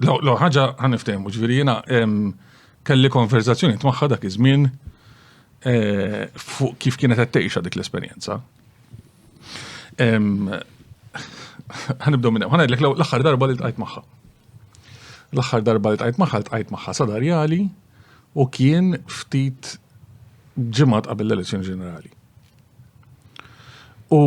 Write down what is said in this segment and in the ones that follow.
L-ewwel ħaġa ħaniftehmu, ġifieri jiena kelli konverzazzjoni tmagħha dak iż-żmien eh, fuq kif kienet qed tgħixha dik l-esperjenza. Ħanibdew minn hemm, ħanajdlek l-aħħar darba li tqajt magħha. L-aħħar darba li tqajt magħha tqajt magħha sadarjali u kien ftit ġimgħat qabel l-elezzjoni ġenerali. U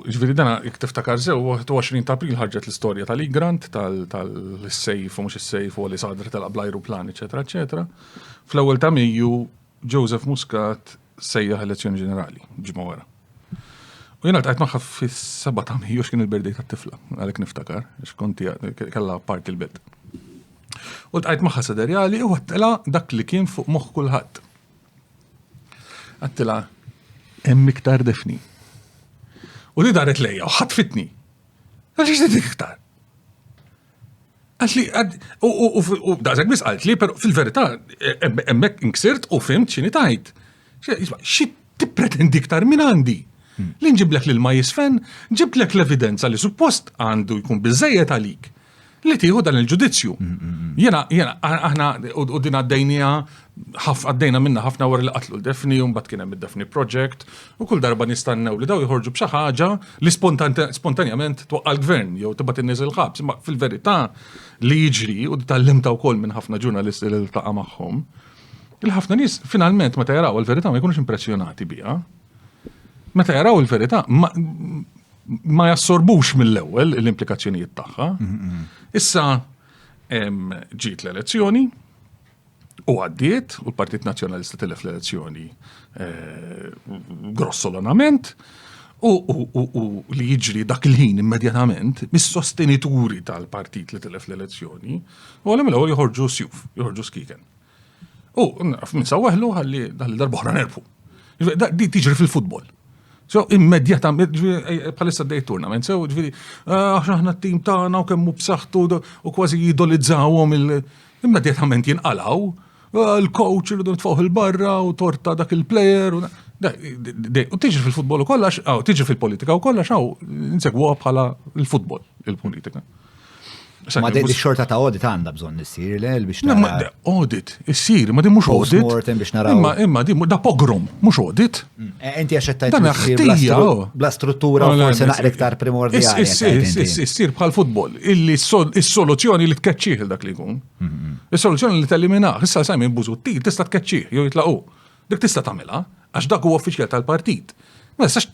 ġviri dana, jek tiftakar zew, 21 ta' april ħarġet l-istoria tal-Igrant, tal-sejf, u mux il-sejf, u għalli sadr tal blajru plan, eccetera, eccetera. Fl-ewel ta' Mejju, Joseph Muscat sejjaħ elezzjoni ġenerali, ġimma wara. U jena tqajt maħħa fis-7 ta' Mejju x'kien il-birdej tat-tifla, għalek niftakar, x'konti kella parti l-belt. U tqajt maħħa sederjali u għattela dak li kien fuq moħħ kulħadd. Għattila, hemm iktar defni. U li daret lejja u ħatfitni. Għax ix dik iktar. Għax li, u dażek bis għalt li, pero fil-verità, emmek nksirt u fimt xini tajt. Xi tippretendi iktar minn għandi? Hmm. Li nġiblek lil ma jisfen, ġiblek l-evidenza li suppost għandu jkun bizzejet għalik. li tieħu dan il-ġudizzju. Jena, jena, aħna u din għaddejnija, għaddejna minna ħafna wara li qatlu l-Defni, un bat kienem il-Defni Project, u kull darba nistannew li daw jħorġu b'xi ħaġa li spontanjament twaqqa l-gvern, jew tibat in-nies il-ħabs, ma fil-verità li jiġri u tal-limta wkoll minn ħafna ġurnalisti li l-taqa magħhom. Il-ħafna nies finalment meta jaraw il-verità ma jkunux impressjonati biha. Meta jaraw il-verità, ma jassorbux mill-ewwel l-implikazzjonijiet tagħha. Issa ġiet l-elezzjoni u għaddiet u l-Partit Nazzjonalista tilef l-elezzjoni eh, grossolonament u li jiġri dak il-ħin immedjatament mis-sostenituri tal-partit li tilef l-elezzjoni u għalem l-ewwel joħorġu sjuf, joħorġu skiken. U minsaweħlu ħalli ħalli darbohra nerfu. Di tiġri fil-futbol. So, immedjata, palissa d-dej tournament, so, ġviri, ah, aħna t-tim tagħna u kemmu b'saħħtu u kważi jidolizzawhom il- immedjatament jinqalaw, ah, il-coach irridu nitfawħ il-barra u torta dak il-player. U tiġi fil-futbol u kollax, tiġi fil-politika u kollax, għaw, nsegwa bħala il-futbol, il-politika. Ma di xorta ta' audit għanda bżon nissir l biex nara. Audit, issir, ma di mux audit. Mortem biex nara. Imma, imma di da pogrom, mux audit. Mm. E, enti għaxettajt. Dan ħtija. Oh. Bla struttura, forse naqra iktar primordjali. Issir bħal futbol, illi s-soluzzjoni li tkeċċieħ dak li jkun. Mm-hmm. Is-soluzzjoni li t-eliminaħ, issa sajmi buzutti, tista tkeċċieħ, jew jitlaqu. Dik tista tamela, għax dak u uffiċjal tal-partit. Ma tistax